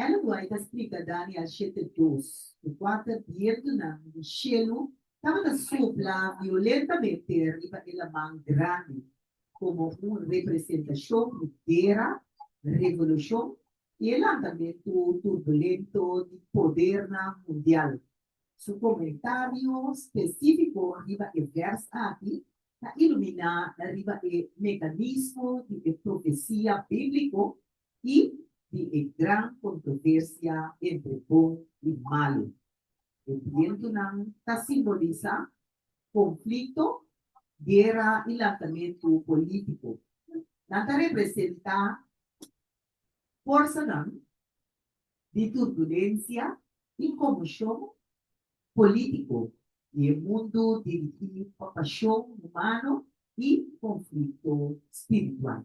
Ellen White a splica Daniel shete dos cu cuater bientunan di shelu tabata sopla violentamente riba e laman grandi como un representacion di guera, revolucion y e lantamentu turbulento di podernan mundial. Su comentario specifico riba e vers aki ta ilumina riba e mecanismo di e profecia biblico i di e gran kontroversia entre bon i malu. E bientunan ta simbolisa konflikto, guera i lantamentu polítiko. Nan ta representá forsanan di turbulensia i komoshon polítiko di e mundu dirigí pa pashon humano i konflikto spiritual.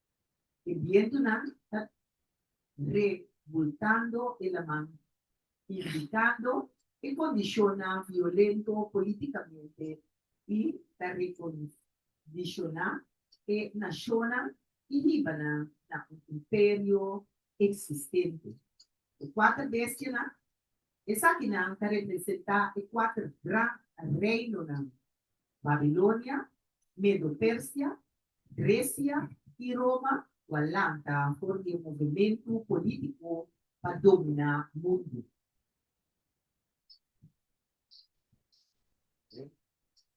E bientunan ta rebultando e laman, indicando e condicionnan violento politicamente y ta recondiciona e nacionnan y hibanan na un imperio existente. E cuater bestianan, esakinan ta representa e cuater gran reinonan. Babilonia, Medo-Persia, Grecia y Roma cu a lanta for di e movemento politico pa domina mundo.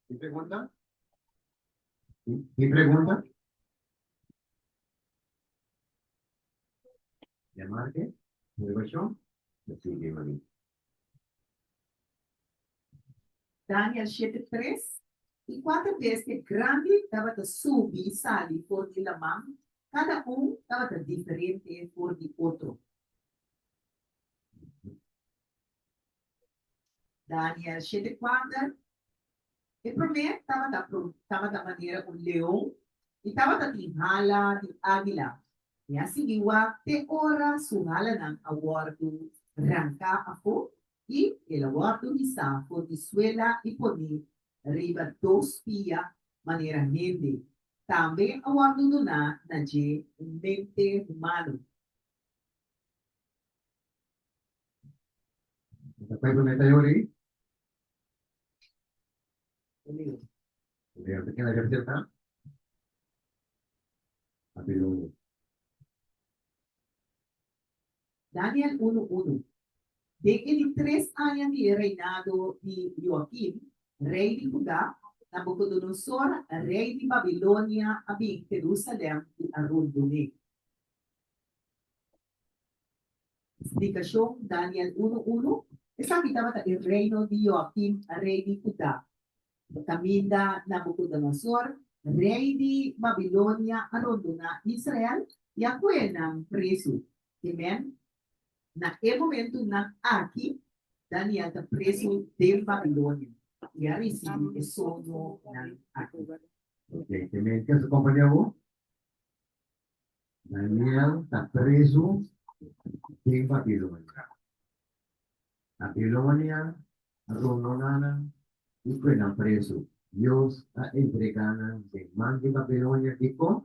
Tin pregunta? Tin pregunta? Llamar ke? Motivacion? Lo sigue, mami. Daniel shete tres i kuater di esnan grandi tabata subi i sali for di laman, kada un tabata diferente for di otro. Daniel shete kuater E promé tabata pro, tabata manera un leon i tabata tin hala di águila, i a sigui wak te ora su halanan a wòrdu ranká afó i el a wòrdu hisá for di suela i poné riba dos pia manera hende. Tambe a wòrdu duná na dje un mente humano. Tabata promé ta yora ei. Daniel unu unu Den e di tres aña di e reinado di Joakim, rei di Huda, Nabukodonosor, rei di Babilonia, a bin Herusalen i a rundung'é. Splikashon, Daniel unu unu, Esaki tabata e reino di Joakim, rei di Hudá. E kaminda Nabukodonosor, rei di Babilonia, a rondoná Israel i a koe nan presu. Amen. Na e momentunan aki, Daniel ta presu den Babilonia i a risibi e soñonan aki. Oke, ke men kasa kompania bo? Daniel ta prezu den Babilonia. Babilonia a rondó nanan i pue nan prezu. Dios a entregá nan den man di Babilonia. Dikon?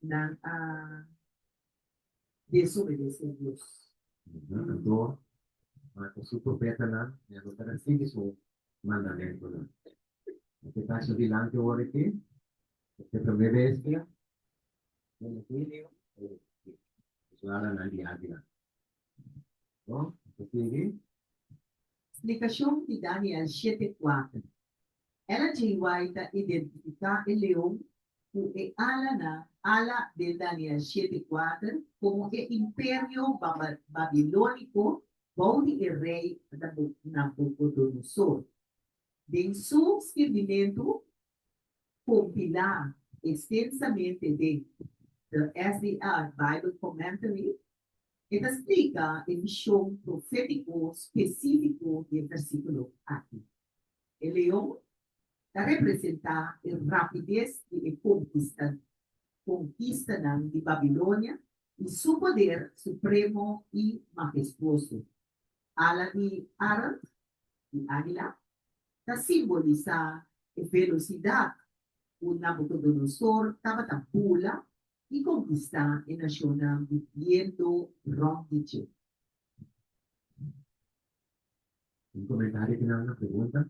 Nan a desobedesé Dios. Anto, mata su profetanan. Nan no ta risibi su mandamentunan. Nan ke ta hasi dilanti ora ke Te prome bes ke mi na hini o usuara nan di anti nan. Bo ta sigui? Splikashon di Daniel shete kuater. El a JY ta identifiká e leon ku e alanan, ala, den Daniel shete kuater komo e imperio babilóniko bou di e rei Nabukodonosor. Den su skirbimentu Compilá extensamente den The SDR Bible Commentary, e ta splica e mishon profetico specifico di e versiculo aki. E leon ta representá e rapidez di e conquistanan di Babilonia i su poder supremo i magestuoso. Ala di arend, di águila, ta simbolisá e velosidat ku Nabukodonosor tabata bula i konkistá e nashonnan di bientu rònt di dje. Un komentario final na pregunta.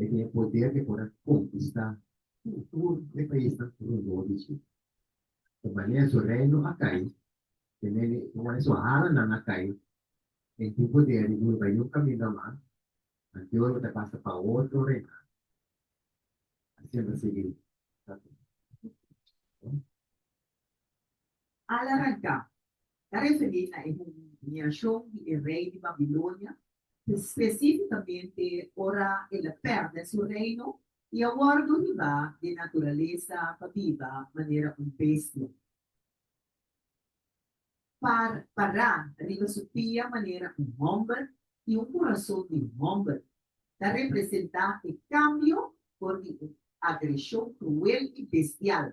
E tin e poder di por a konkistá tur tur e paisnan rondó di su. Ta manera su reino a kai, ta manera su halanan a kai, e tin poder di duru bai un kaminda mas, anto e ora ta pasa pa otro reina. Asina ta sigui. Al-Ragab ta referí na e humiliashon di e rei di Babilonia, spesífikamente ora el a pèrdè su reino i a wòrdu durmibá di e naturalesa pa biba manera un bestia. Pa pará riba su pia manera un hòmber i un kurason di un hòmber ta representá e kambio for di e agreshon kruel i bestial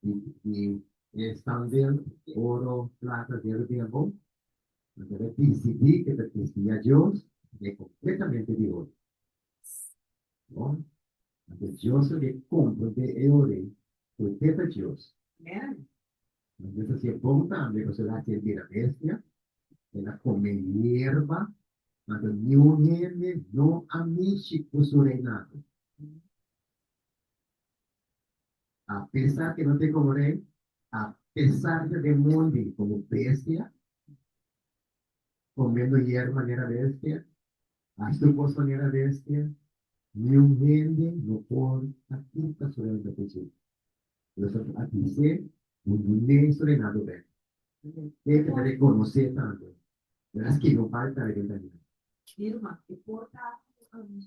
di e sandel, oro, plata, di e rubia bon, nan ta desidí ku e ta kustía Dios, e kompletamente di oro. Bon, anto Dios lo ke kompra de e ore ku e teta Dios. Nan Dios a hasi e bon tambe, pasobra el a hasi e bira bestia, el a kome yerba, anto niun hende no a mishi ku su reinado. a pesa ke no tin komo rei, a pesa riba den mundi komo bestia, komendo yerba manera bestia, a su kos manera bestia, niun hende no por a kita su renta ku su. Por eso a bis'é, Bo no nei su reinado bek. Ke ta rekonos'é tambe, Bera skei no bai ta reina ta hina. Irma, e por ta ku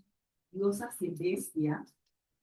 Dios a hasi bestia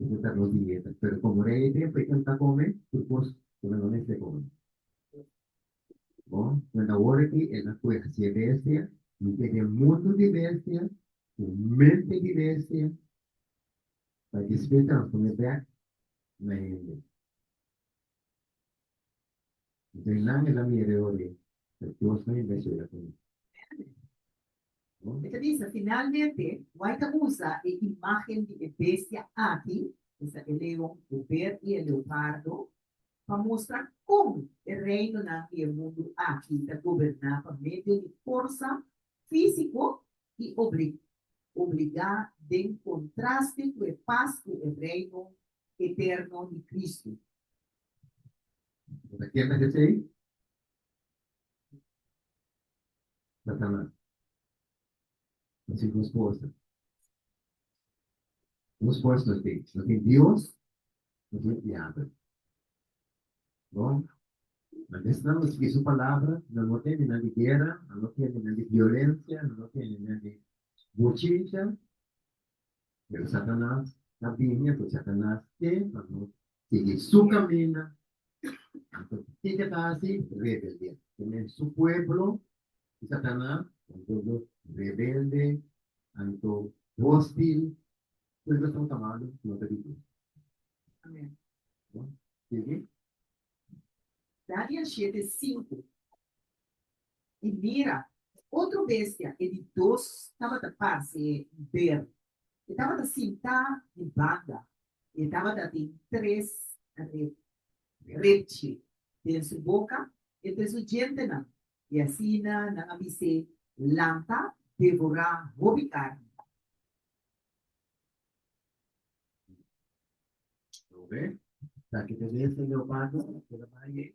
e no ta nos dieta pero komo rei e tempu e kenta kome tur kos ku nan no mester kome bo nan ta wor aki e na kueha si e bestia mi te den mundu di bestia ku mente di bestia pa despues ta nos pone bek na hende. Esei nan e la mi hereo rei, ta Dios nan e ta hera pa mi. E ta bisa, Finalmente, wai ta usa e imágen di e bestia aki, esa e leon, e ber i e leopardo, pa mustra kon e reinonan di e mundu aki ta goberná pa medio di forsa físiko i obligá den kontraste ku e pas ku e reino eterno di Kristu. Bo ta kier ta hesei? Satanas. Así bo esposa. Bo esposa no tin. No tin Dios, no tin diabel. Bo, nan ta esnan bo sigui su palabra, nan no tende nan di guera, nan no tende nan di violencia, nan no tende nan di bochincha, pero Satanas ta bini, ato Satanas te pa no sigui su kaminda, anto kiken ta hasi? Rebeldia. Tene su pueblo, i Satanas, un pueblo rebelde, anto hostil, tur esaki son kamado ku no ta di Dios. Amen. Sigui. Daniel siete sinku. I mira, otro bestia, e di dos, tabata pase ber. E tabata sintá di banda, i e tabata tin tres repchi den su boka entre su djentenan, i asina nan a bis'é, Nan ta devorá hopi karni. Lo wè, taki ta bestia leopardo, e ta bai ei.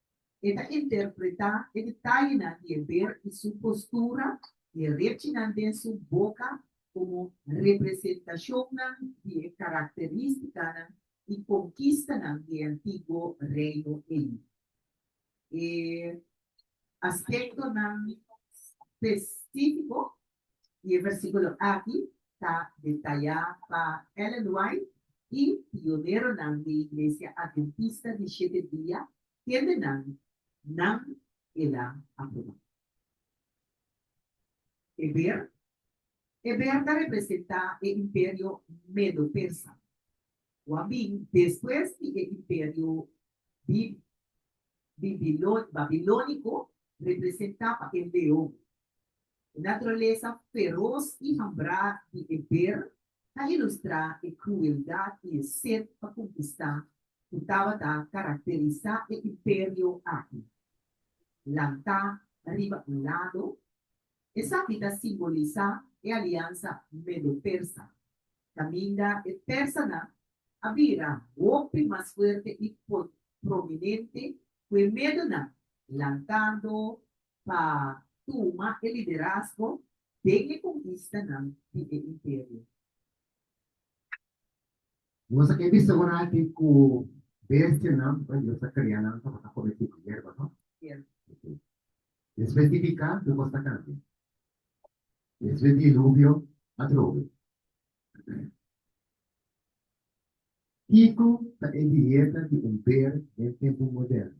E ta interpretá e detallenan di e ber i su postura i e rechinan den su boka komo representashonnan di e karakterístikanan i konkistanan di e antiguo reino ei. E aspektonan spesífiko Y e versículo aki ta detayá pa Ellen White y pioneronan di Iglesia Adventista di Shete Dia kendenan nan el a aprobá. Eber, Eber ta representá e imperio medo-persa, wou a bin despues di e imperio bib bibilon babilóniko representá pa e leon. E naturalesa feros i hambrá di e ber ta ilustrá e krueldat i e set pa konkistá ku tabata karakterisá e imperio aki. Lantá riba un lado, esaki ta simbolisá e aliansa medo-persa, kaminda e persanan a bira hopi mas fuerte i prominente ku e medonan, lantando pa tuma e liderazgo den e konkistanan di e imperio. Nos a ke bisa ora aki ku bestianan ku Dios a krea nan tabata kometí ku yerba, no? Sierto. Despues di piká, tur kos ta kambia. Despues di diluvio, atrobe. Kiko ta e dieta di homber den tempu moderno?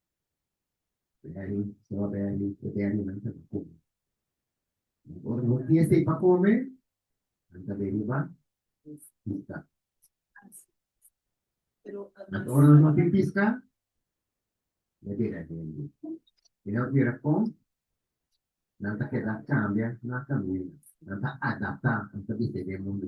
Beni, so beni, so beni nan ta ku. Ora no tiene se pa come, nan ta beni ba. Pista. Nan ora no no tin pista, ne beni a beni. E no tira pon, nan ta keda cambia na camina, nan ta adapta, nan ta bise de mundo.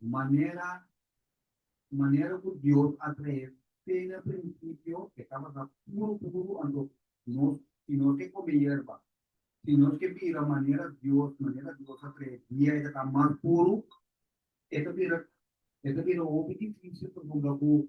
Un manera un manera ku Dios a trae fe na prinsipio e ta basa puru puru anto nos si nos ke kome yerba si nos ke bira manera Dios manera Dios a trae dia e ta mas puru e ta bira e ta bira hopi difisil pasobra ku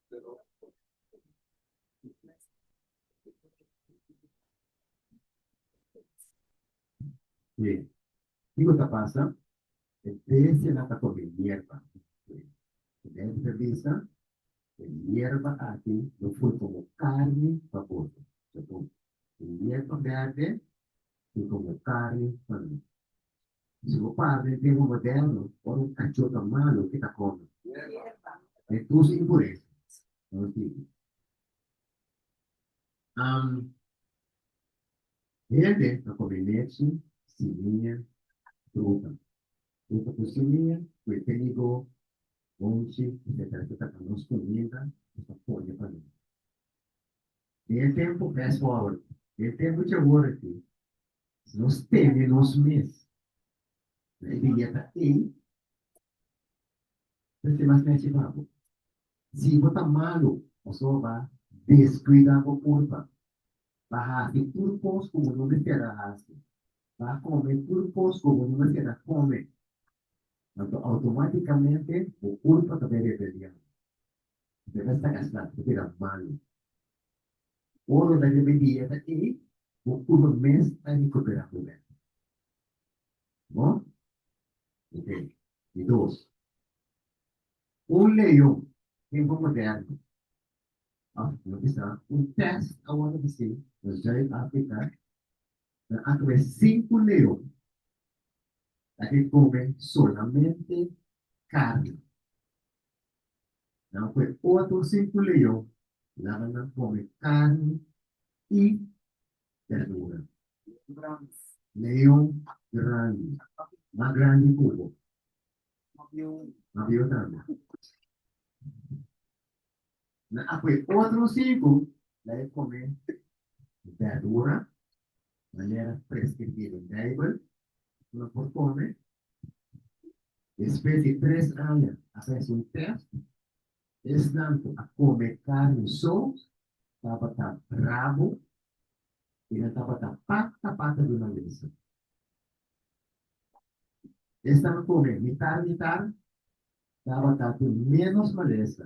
Bien. Kiko ta pasa? E bestia nan ta come hierba. Dentro de bisa, e hierba aki lo fue como carne pa boto. Segun, e hierba verde fue como carne pa mi. Si bo parne den un moderno o un cachota malo ke ta kome den tusi impuresa, no sirbi. Am Hende a kome lechi, simia, fruta, fruta ku simia, ku e trigo, onchi, etcetera etcetera, nos kuminda nos ta pone pa nan. Den e tempu mesmu awor, den e tempu dje awor aki, si nos teme nos mes na e biyeta ei, ta ser mas nechi pa bo. Si bo ta malu, pasobra bo a deskuida bo purpa, bo a hasi tur kos ku bo no mester a hasi, bo a kome tur kos ku bo no mester a kome, anto outomátikamente bo purpa ta bai rebeliá. Te basta gastá tu bira malu. Ora bo ta riba e dieta ei, bo cuerpo mes ta recuperá cu bèk. Bo? Ok. Di dos. Un leon, tempo moderno, of no bisa, un test awor ta haci na Zuid-Africa, nan a tuma e cinco leon ta ke come solamente carne. Nan kue otro sin cu leyó laga nan come carni y berdura. Leon grandi, mas grandi cu bo. Mabio tambe. Nan a kue otro sin cu la e come berdura, manera prescribi den Bijbel, cu nan por come Despues di tres aña a hasi un tèst, esnan ku a kome karni so tabata brabo i nan tabata pata pata di malesa. Esnan ku kome mitar mitar tabata ku ménos malesa.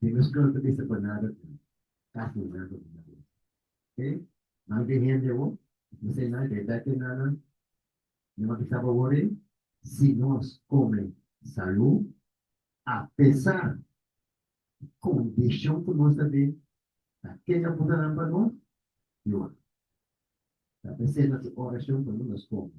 Tin nos kos ta bisa pa nada ta kas na nada di nada. Oke? Nan tin hende bo ta bisa nan ke ta tin nan nan mi no a bisa bo wori si nos kome salu apesar di kondishon ku nos ta den ta kenga puta nan pa nos yuda. Ta p'esei nos orashon ta nos kome.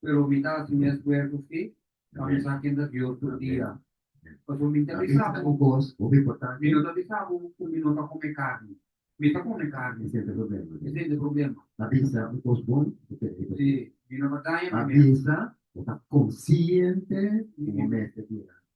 pero mi ta hasi mes cuerpo schi pa mi sa ken ta Dios tur dia. Pasobra mi ta bisa bo, mi no ta bisa bo cu mi no ta come carni. Mi ta come carni. E sente problema. Mi no ta daña mi mes.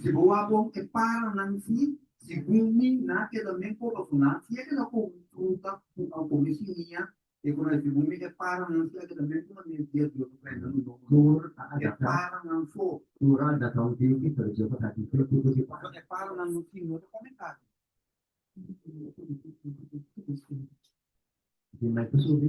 Si bo a bon e para nan si, sigun mi na keda men por rasoná, si a keda komo un fruta ku a komi sin mia, e ku na sigun mi e para nan si a keda men kuma nes dia Dios a prende nan don tur ta e para nan so. Tur a adaptá un tempu pero Dios a kati tur tipo di para. So e para nan no tin no ta kome karni. Di mai pasobra?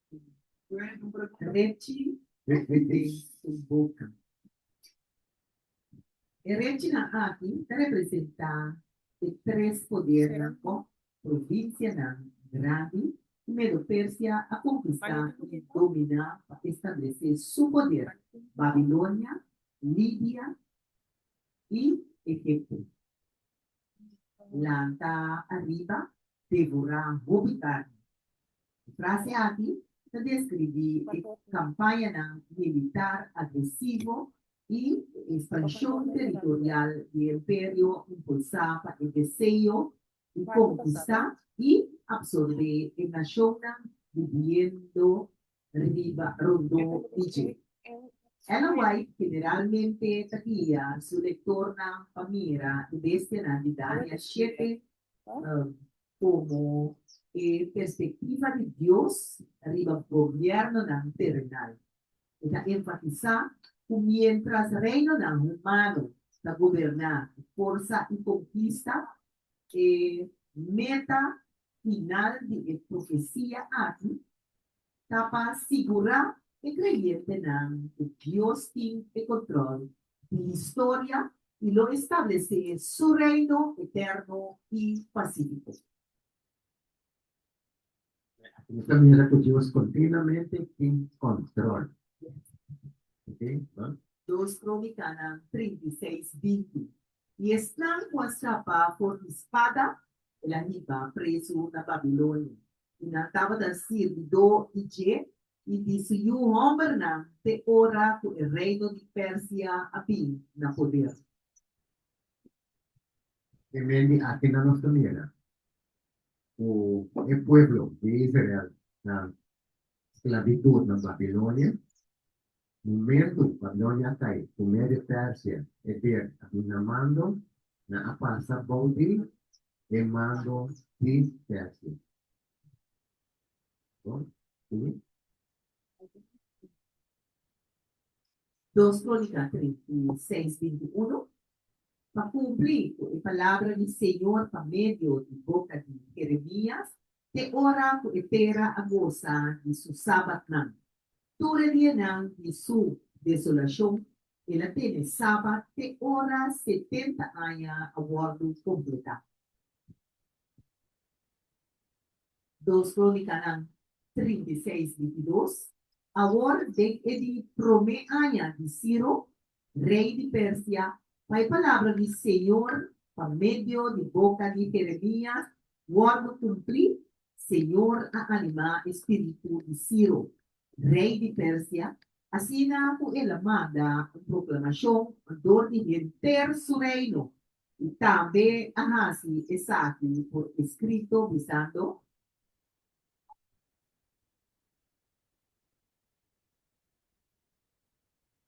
Rechi de su boca. E rechinan aki ta representá e tres podernan òf provinsianan grandi ku Medo-Persia a konkistá i dominá pa establesé su poder, Babilonia, Libia i Egipto. Lanta ariba, devorá hopi karni. E frase aki ta deskribí e kampañanan militar agresivo i e ekspanshon teritorial di e imperio impulsá pa e deseo di konkistá i apsorbé e nashonnan bibiendo riba rondó di dje. Ellen White generalmente ta guia su lektornan pa mira e bestianan di Dania shete komo e perspektiva di Dios riba gobièrnonan terenal. E ta enfatisá ku miéntras reinonan humano ta goberná ku forsa i konkista, e meta final di e profecia aki ta pa sigura e creyentenan cu Dios tin e control di historia y lo establece su Reino eterno y pacifico. Nos ta mira cu Dios continuamente tin control. Dos Cronicanan trinta i seis binti. I esnan ku a sapa for di spada, el a hiba presu na Babilonia, i nan tabata sirbidó di dje i di su yu hòmbernan te ora ku e reino di Persia a bin na poder. E men di aki nan nos ta mira ku e pueblo di Israel na sklabitut na Babilonia. Momentu pa Doña Tay ku Medio Persia e ber a bin na mando, nan a pasa bou di e mando di Persia. Bon, sigui. Dos Krónika trinta i seis binti i unu Pa kumplí ku e palabra di Señor pa medio di boka di Jeremías, te ora ku e tera a gosa di su sabatnan, Tur e dianan di su desolashon, el a tene saba te ora setenta aña a wòrdu kompletá. Dos Krónikanan trinta i seis bintidos Awor den e di promé aña di Siro, rei di Persia, pa e palabra di señor pa medio di boca di Jeremias wordo cumpli, Señor a animá e spiritu di Ciro, rei di Persia, asina cu el a manda un proclamacion dor di henter su reino, i tambe a haci esaki por escrito, bisando.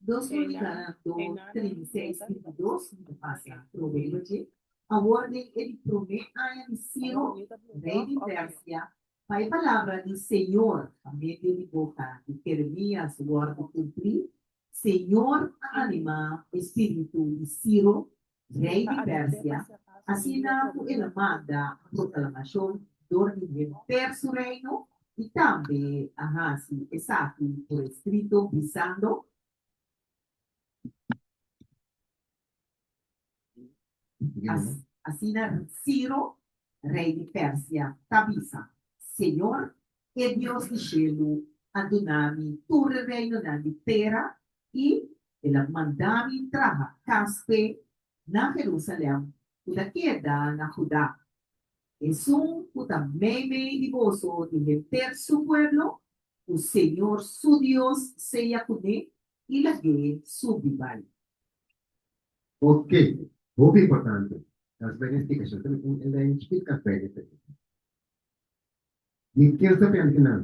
Dos Dominikana do trinta i seis i di dos di pasa prueba dje. Awor den e di promé aña di Siro, rei di Persia, pa e palabra di señor pa medio di boka di Jeremías wòrdu kumplí, Señor a animá e spiritu di Ciro, rei di Persia, asina ku el a manda proklamashon dor di henter su reino, i tambe a hasi esaki por eskrito, bisando, Asina Ciro, rei di Persia, ta bisa, Señor, e Dios di shelu, a duna mi tur e reinonan di tera, i el a manda mi traha kaspe na Jerusalem ku ta keda na Judá. Esun ku ta meimei di boso di henter su pueblo, ku señor su Dios seya kuné i lag'é subi bai. Porke, hopi importante, Casbergen stica sha ta un elèn chikit Casbergen ta tabata. Di ken sa pende ki nan?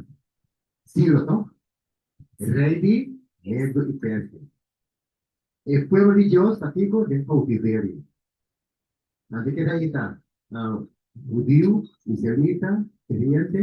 Ciro tòg, rei di Medo i Persia. E pueblo di Dios ta tiko den koutiverio. Ante ke rei ta hudiu, israelita, kreyente.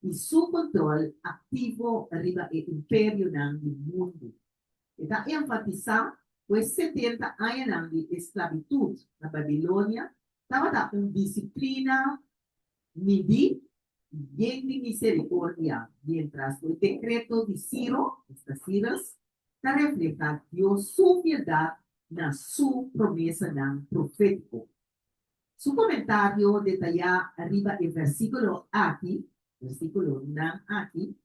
i su kontrol aktivo riba e imperionan di mundu. E ta enfatisá ku e setenta añanan di esklavitut na Babilonia tabata un disiplina midí i yen di miserikordia, miéntras ku e dekreto di Siro, esta Cyrus, ta reflehá Dios su fieldat na su promesanan profétiko. Su komentario detayá riba e versíkulo aki, versíkulonan aki,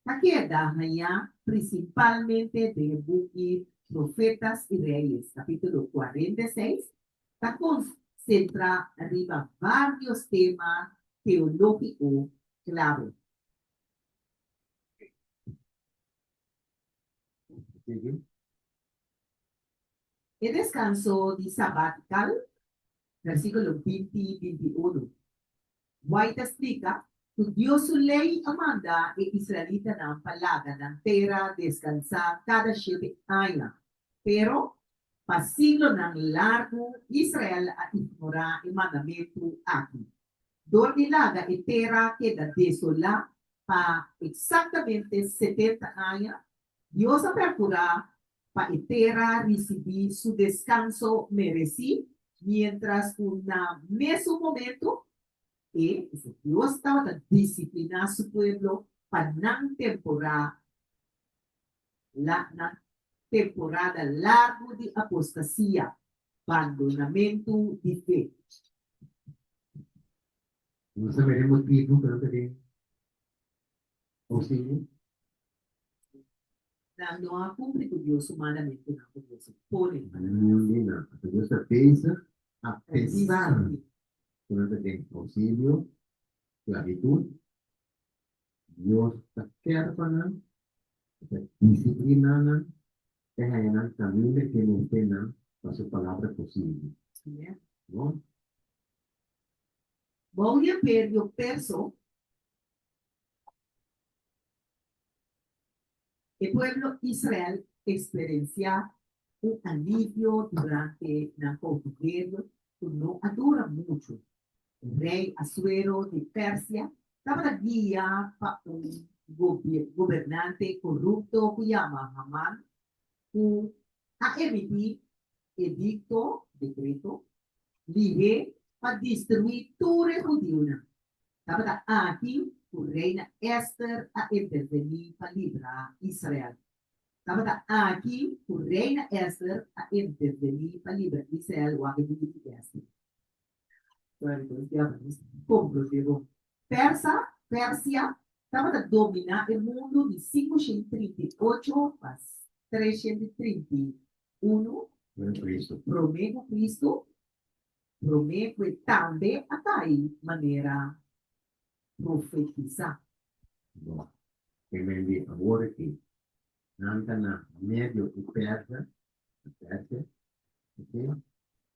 ta keda hañá prinsipalmente den e buki Profetas i Reyes, kapítulo kuarenta i seis, ta konsentrá riba vários tema teológiko klave. E descanso di sabatical, versiculo binti, binti unu, Wai ta splica cu Dios su ley a manda e israelitanan pa laga nan tera descansa cada shete aña. Pero, pa siglonan largu Israel a ignora e mandamentu aki. Dor di laga e tera keda desola pa exactamente setenta aña, Dios a percurá pa e tera ricibi su descanso mereci, mientras cu na mesun momento e, esa Dios, tabata discipliná su pueblo pa nan temporá la, nan temporada largu di apostasia, bandonamentu di fe. Nos a mira e motibu pa no ta den Nan no a kumpli ku Dios su mandamentunan ku Dios a pone pa nan hende. Ora Dios ta pensa apesar ku nan ta den ousilio, sklabitut, Dios ta kèr pa nan, e ta disipliná nan, e haña nan kaminda ke mester nan pa su palabra posibel. Amèn. Bou ya per yo perso. E pueblo Israel eksperensiá un alivio durante nan koutiverio ku no a dura muchu. Rei Asuero di Persia tabata guia pa un gobernante korupto ku yama Haman. Ku a emití edikto, dekreto, lihe pa destruí tur e hudiunan. Tabata aki ku reina Èster a intervení pa libra Israel. Tabata aki ku reina Èster a intervení pa libra Israel wak e buki di Èster. Persa, Persia, tabata dominá e mundu di sinku shent trinta i ocho pa tres shent i trinta i unu promé ku Kristu. Promé ku e tambe a ta ei manera profetisá. Bo ke men di awor akí, Nan ta na Medio i Persa, Persia, oke?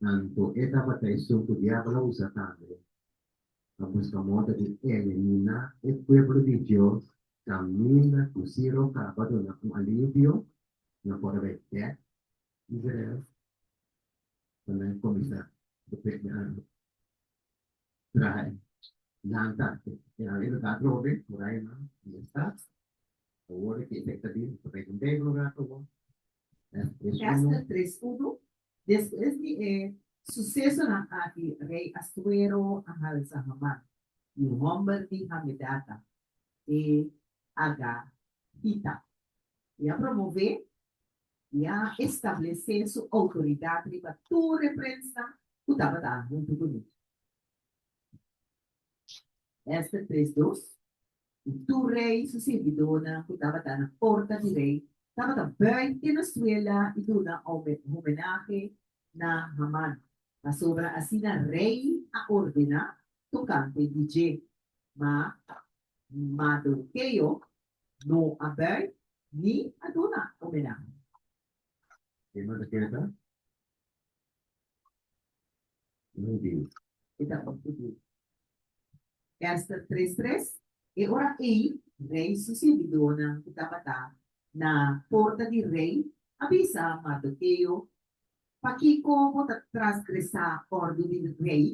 Tantu e tabatraision ku Diabel a usa tambe pa buska moda di eliminá e pueblo di Dios kaminda ku Siro kaba duna un alivio na por habé bèk Israel pa nan kuminsá depende di Aram. Traha e lanta e Aram e lugá atrobe muraya nan di e stat. Awor e ki efekto di Reino Negro rato bo. Ester tres uno Despues di e susesonan aki rei Astuero a halsa Haman, e hòmber di Hamedata, e agatita. I a promové i a establesé su outoridat riba tur e prensnan ku tabata huntu ku mi. Ester tres dos I tur rei su sirbidónan ku tabata na porta di rei tabata bùi te na suela i duna homenahe na Haman, pasobra asina rei a ordená tokante di dje. Ma Mardokeo no a bùi ni a duna homenahe. Kima ta keda? Ester tres tres E ora ei, rei su sirbidonan ku tabata na porta di rei a bisa Mardokeo, Pakiko bo ta trasgresá òrdu di rei?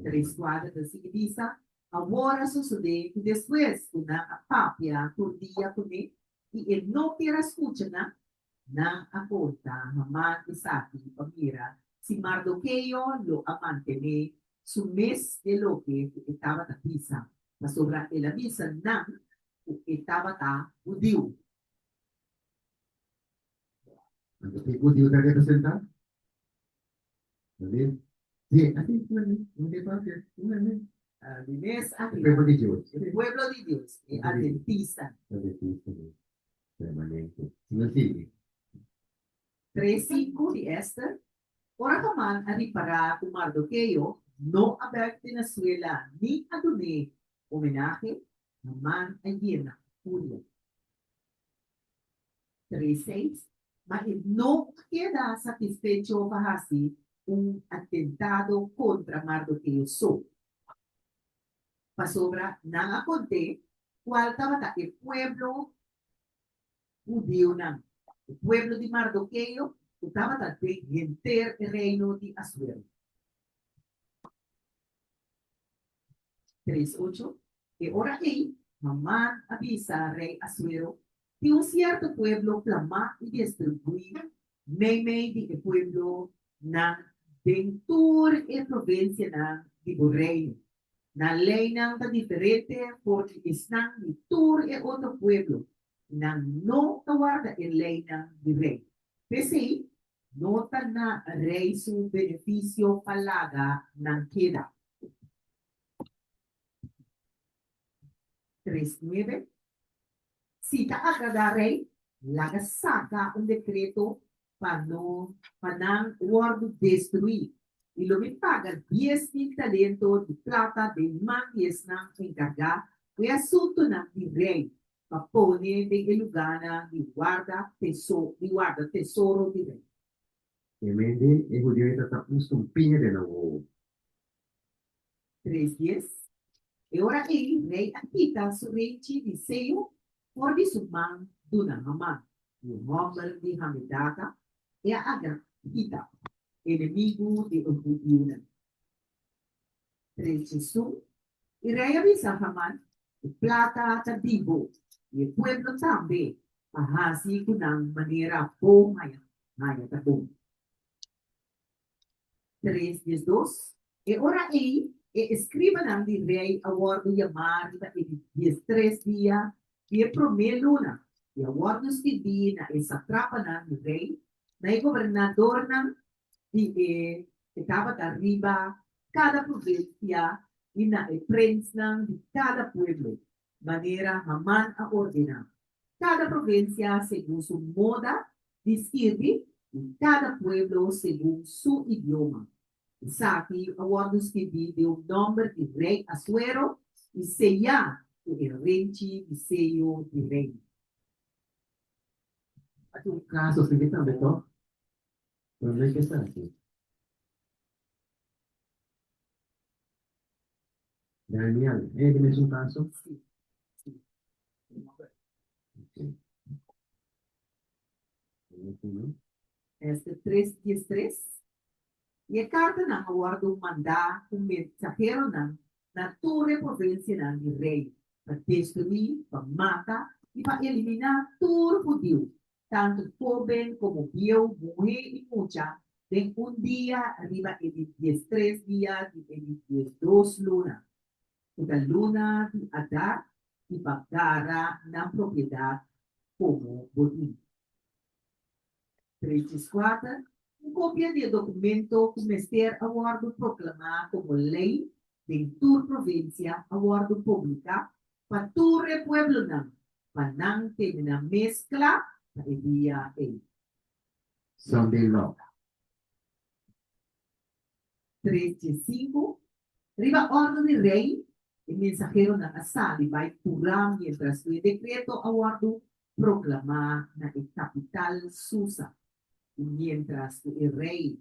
Tres kuater ta sigui bisa, Awor a sosodé ku despues ku nan a papia tur dia kuné i e no kier a skucha nan, Nan a porta Haman esaki pa mira si Mardoqueo lo a mantené su mes dje loke ku e tabata bisa, pasobra el a bisa nan ku e tabata hudiu. Ora ki hudiu ta representá? Tabata. Dje aki un hende, un hende kualke, un hende. Di mes ariba. E pueblo di Dios. E pueblo di Dios, e adventista. Adventista. permanente. Si no sirbi. Tresi ku di Ester, Ora Haman a ripará ku Mardokeo no a bèk di na suela ni a dun'é omenahe, Haman a yena ku furia. Tres seis, Ma e no a keda satisfecho pa hasi un atentado kontra Mardokeo so. Pasobra nan a conté cual tabata e pueblo judionan, e pueblo di Mardoqueo cu tabata den henter e reino di Asuero. Tres ocho E ora ei, Haman a bisa rey Asuero tin un sierto pueblo plamá i destruí meimei di e pueblonan den tur e provinsianan di bo reino. Nan leinan ta diferente for di esnan di tur e otro pueblo, i nan no ta warda e leinan di rei. P'esei, no ta na rei su benefisio pa laga nan keda. tres nuebe, Si ta agradá rei, laga saka un dekreto pa no pa nan wòrdu destruí, i lo mi paga dies mil talento di plata den man di esnan enkargá ku e asuntunan di rei, pa pone den e lugánan di warda teso di warda tesoro di rei. Hemen den, e hudiunan ta ta un stumpia den nan wowo. Tres dies. E ora ei rei a kita su reichi di Seo for di su man duna Haman, un hòmber di Hamedata, e a Agag, hita, enemigu di e hudiunan. Tres diesun. E rei a bisa Haman, E plata ta di bo, i e pueblo tambe a hasi ku nan manera bo haya, haya ta bon. tres di es dos. E ora ei e escribanan di rei a wòrdu yamá riba e dies tres dia di e promé luna i a wòrdu stibí na e satrapanan di rei, na e gobernadornan di e e tabata riba kada pruvinsia i na e prensnan di kada pueblo. manera Haman a ordená. Kada provinsia segun su moda di skirbi i kada pueblo segun su idioma. Esaki a wòrdu skirbí den un nòmber di rei Asuero i seyá ku e renchi di seyo di rei. Aki un kaso asina tambe tò. Pero no e kes aki. Daniel, e di mesun kaso? Si. Si. Okay. Ester 3, 10, 3 I e kartanan a wòrdu mandá ku mensaheronan na tur e provinsianan di rei pa destruí, pa mata i pa eliminá tur hudiu tantu hóben komo bieu, muhé i mucha, den un dia riba e di diestres dia di e di diesdos luna, ku ta luna di Adar, i pa gara nan propiedat komo bodin. Tresdiskuater, Un kopia di e dokumento ku mester a wòrdu proklamá komo lei den tur provinsia a wòrdu publiká pa tur e pueblonan, pa nan terminá mes kla pa e dia ei. Sunday Log. Tres dje sinku, Riba òrdu di rei, e mensaheronan a sali bai kurá miéntras ku e dekreto a wòrdu proklamá na e kapital Susa. I miéntras ku e rei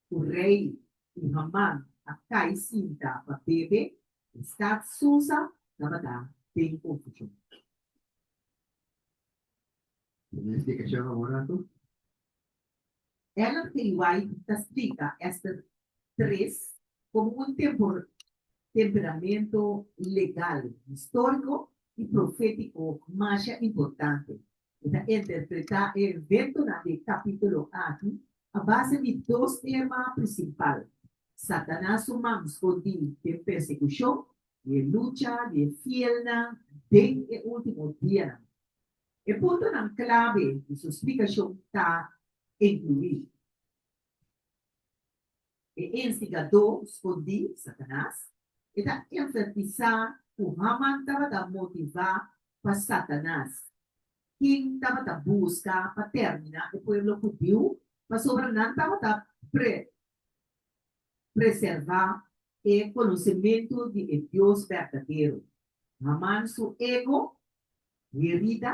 ku rei i Haman a kai sinta pa bebe, e stat Susa tabata den konfushon. Tin un splikashon awor anto? Ellen G. White ta splika Ester tres komo un temperamentu legal, históriko i profétiko masha importante E ta interpretá e eventonan di e kapítulo aki a base di dos tema prinsipal, Satanas su mansco di den persekushon i e lucha di e fielnan den e último dianan. E puntonan klabe di su splikashon ta enkluí. E enstigadó skondí, Satanas, e ta enfertisá ku Haman tabata motivá pa Satanas, ken tabata buska pa tèrminá e pueblo hudiu, pasobra nan tabata preservá e konosementu di e Dios berdadero. Haman su ego herida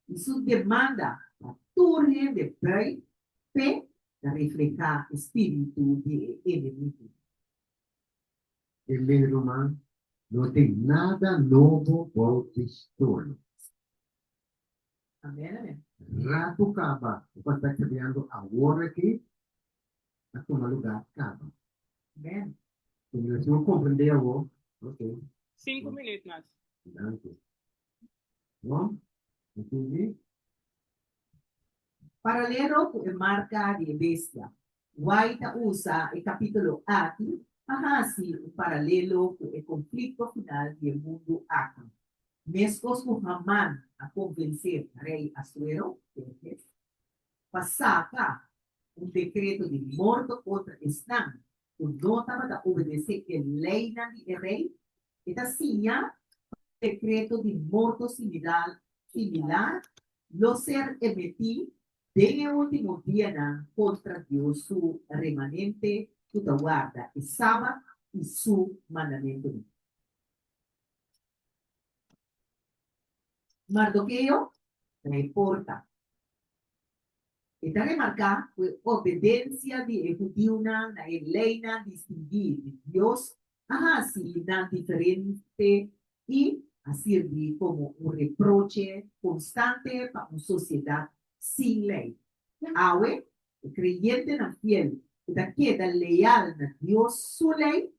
i su demanda pa tur hende bai p'e ta reflehá e spíritu di e enemigu. E lei roman no tin nada nobo bou di stolo. Amén, amén. Ratu kaba, bo por ta kriando awor akí a tuma lugá kaba. Amén. Señor, si bo komprendé awó, oke. Sinku minüt mas. Granti. Bon, bo sigui. Paralelo ku e marka di e bestia, White a usa e kapítulo aki pa hasi un paralelo ku e konflikto final di e mundu aki. Meskos ku Haman a konvensé rei Asuero, Xerxes, pa saka un dekreto di morto kontra esnan ku no tabata obedesé e leinan di e rei, e ta siña pa un dekreto di morto similar lo ser emití den e último dianan kontra Dios su remanente ku ta warda e sabat i su mandamentunan. Mardoqueo ta e porta. E ta remarcá cu e obedencia di e judiunan na e leynan distinguí di Dios a haci nan diferente i a sirbi como un reproche constante pa un sociedad sin ley. Awe, E creyentenan fiel cu ta keda leal na Dios su ley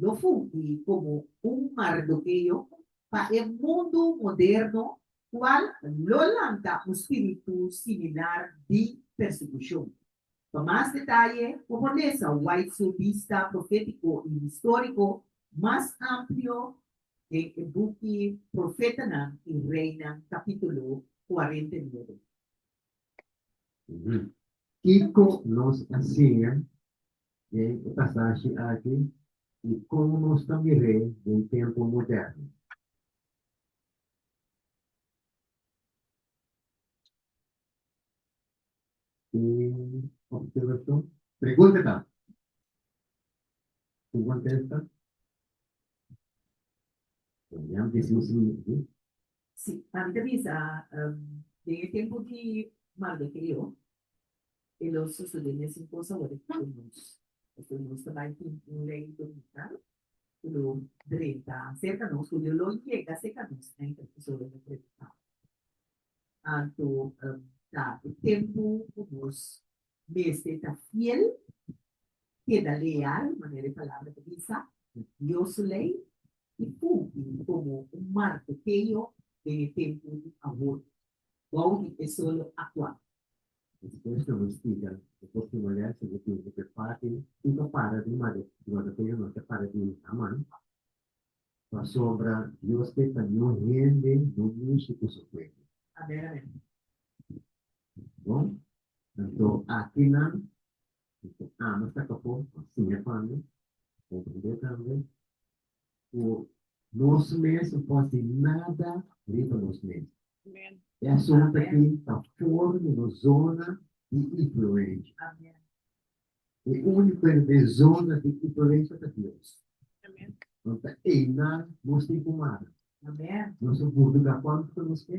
lo fungi como un Mardoqueo pa e mundu moderno cual lo lanta un spiritu similar di persecucion. Pa mas detaye por lesa White su bista profetico y historico mas amplio den e buki Profetanan y Reinan capitulo cuarenta y nuebe. Kiko nos a siña den e pasashi aki i kon nos ta mir'é den tempu moderno? Pregunta ta, Ku kontesta? Si, papi ta bisa, den e tempu di Mardokeo e lo sosodé mesun kos awor e ku nos. Pasobra nos ta bai tin un lei bonita ku lo drenta serka nos, ku lo lo yega serka nos na inter episode di predika. Anto ta e tempu ku nos mester ta fiel, keda leal, manera e palabra ta bisa, na Dios su lei, i fungi komo un marko peño den e tempu di awor, bou di e solo aktual. Despues nan lo splica e por ki manera si bo tin e pe fásil i pa para di mare di marko peño no ta para di un aman. Pasobra Dios ke pa niun hende no musu ku su pueblo. Amen amen. Bon, anto akinan Di ku ami ta tokó a siña pa mi, bo tambe ta haña ku nos mes no por hasi nada riba nos mes. E asuntu akí ta for di nos zona di influensha. E úniko den nos zona di influensha ta Dios. Pabia ei nan nos tin ku mara. Nos a burduga kuantu ta nos ke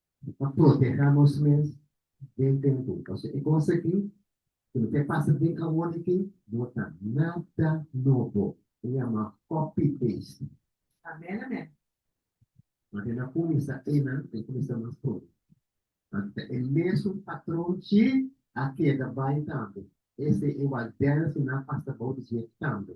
ta protehá nos mes den tempu. Pasobra e kos akí ku lo ke pasa den awor akí no ta nada nobo. Ta yama copy paste. Amén amén. Ora ke nan kuminsá enan nan kuminsá mas pronto. Anto ta e mesun patron chi a keda bai tambe. Esei e waldènes ku nan a pasa bou di dje tambe.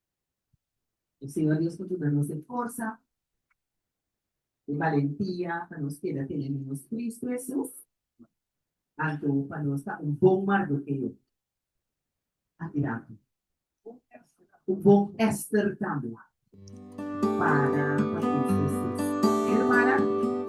E Señor Dios por duna nos e forsa, e balentia pa nos keda tene na nos Cristo Jesus, anto pa nos ta un bon Mardoqueo aki na awe, un bon Esther tambe, para pa Cristo Jesus. Amen, hermana?